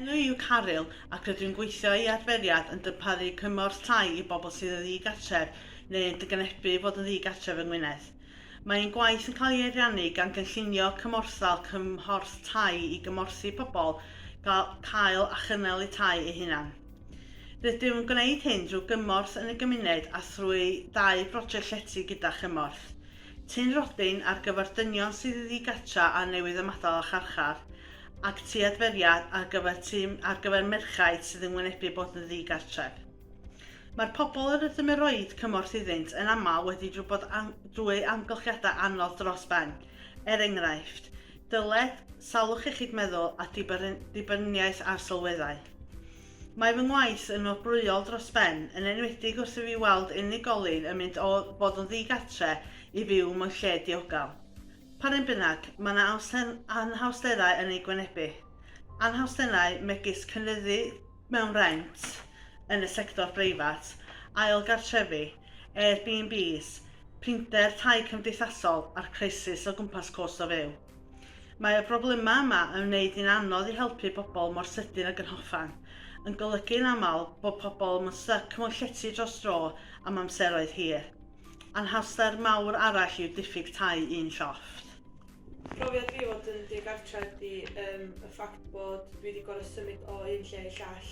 Enw i yw Caryl ac rydw i'n gweithio i adferiad yn darparu cymorth tai i bobl sydd yn ddi-gartref neu yn dygnebu fod yn ddi-gartref yng Ngwynedd. Mae ein gwaith yn cael ei ariannu gan gynllunio cymorthal cymhorth tai i gymorthu pobl gael cael a chynnal eu tai eu hunain. Rydym yn gwneud hyn drwy gymorth yn y gymuned a thrwy ddau broject llety gyda chymorth Tŷ'n Rhodyn ar gyfer dynion sydd ddigartra a newydd ymadael â charchar, ac Tŷ Adferiad ar gyfer tŷ ar gyfer merchaid sydd yn wynebu bod yn ddigartref. Mae'r pobl yr ydym yn rhoi cymorth iddynt yn aml wedi bod drwy amgylchiadau anodd dros ben, er enghraifft, Dyled, salwch iechyd meddwl a dibyniaeth ar sylweddau. Mae fy ngwaith yn wobrwyol dros ben, yn enwedig wrth i fi weld unigolyn yn mynd o fod yn ddi-gartre i fyw mewn lle diogel. Pa rym bynnag, mae yna anhawsterau yn eu gwynebu. Anhawsterau megis cynyddu mewn rent yn y sector breifat, ail gartrefi, Airbnbs, prinder tai cymdeithasol a'r crisis o gwmpas cost o fyw. Mae y broblemau yma yn wneud hi'n anodd i helpu pobl mor sydyn ag yn hoffan, yn golygu yn aml bod pobl yn styc mewn llety dros dro am amseroedd hir. Anhawster mawr arall yw diffyg tai un llofft. Profiad fi fod yn digartref ydy yym y ffact bod dwi 'di gor'o' symud o un lle i llall.